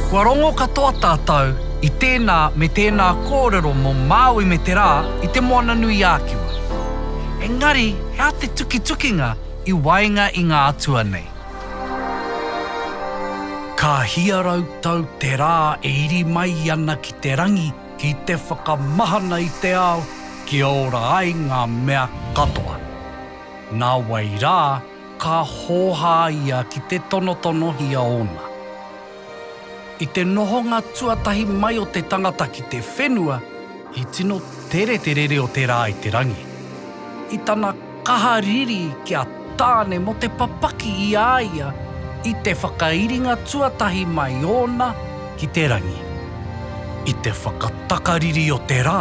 Kua rongo katoa tātou i tēnā me tēnā kōrero mō Māui me te rā i Te Moananui-ā-Kiwa. Engari he aha te tukitukinga i waenga i ngā atua nei? Ka hia rau tau te rā e iri mai ana ki te rangi ki te whakamahana i te ao kia ora ai ngā mea katoa. Nā wai rā, ka hōhā ia ki te tonotonohia ōna. I te nohonga tuatahi mai o te tangata ki te whenua, i tino tere te rere o te rā i te rangi. I tana kaha riri ki a Tāne mō te papaki i a ia i te whakairinga tuatahi mai ōna ki te rangi. I te whakatakariri o te rā,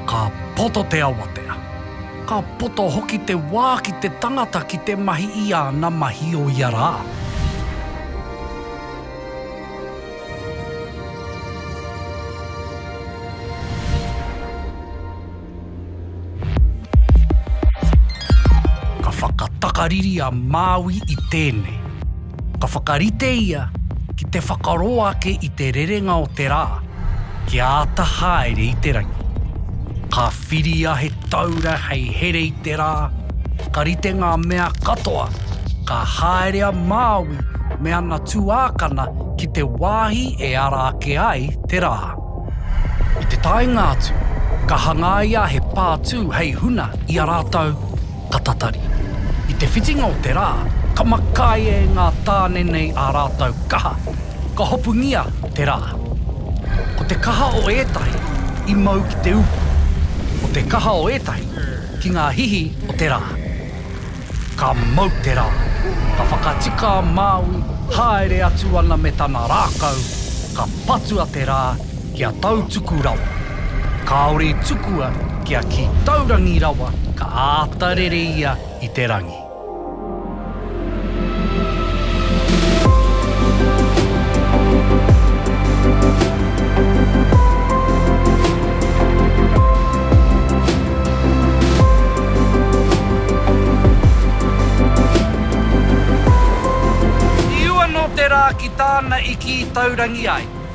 ka poto te awatea. Ka poto hoki te wā ki te tangata ki te mahi i āna mahi o ia rā. Ka whakatakariri a Māui i tēnei. Ka whakarite ia ki te whakaroa ake i te rerenga o te rā kia āta haere i te rangi. Ka whiria he taura hei here i te rā, ka rite ngā mea katoa, ka haere a Māui me ana tuākana ki te wāhi e ara ake ai te rā. I te taenga atu, ka hangaia he pātū hei huna i a rātou. ka tatari. I te whitinga o te rā, ka makai e ngā tāne nei ā rātou kaha, ka hopungia te rā. Ko te kaha o ētahi i mau ki te upo, ko te kaha o ētahi ki ngā hihi o te rā. Ka mau te rā, ka whakatika a Māui, haere atu ana me tana rākau, ka patua te rā, Kia tautuku rawa. Kāore i tukua kia kī taurangi rawa ka āta rere ia i te rangi. I ua nō te rā ki tāna i kī taurangi ai.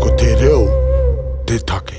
Ko te reo te take.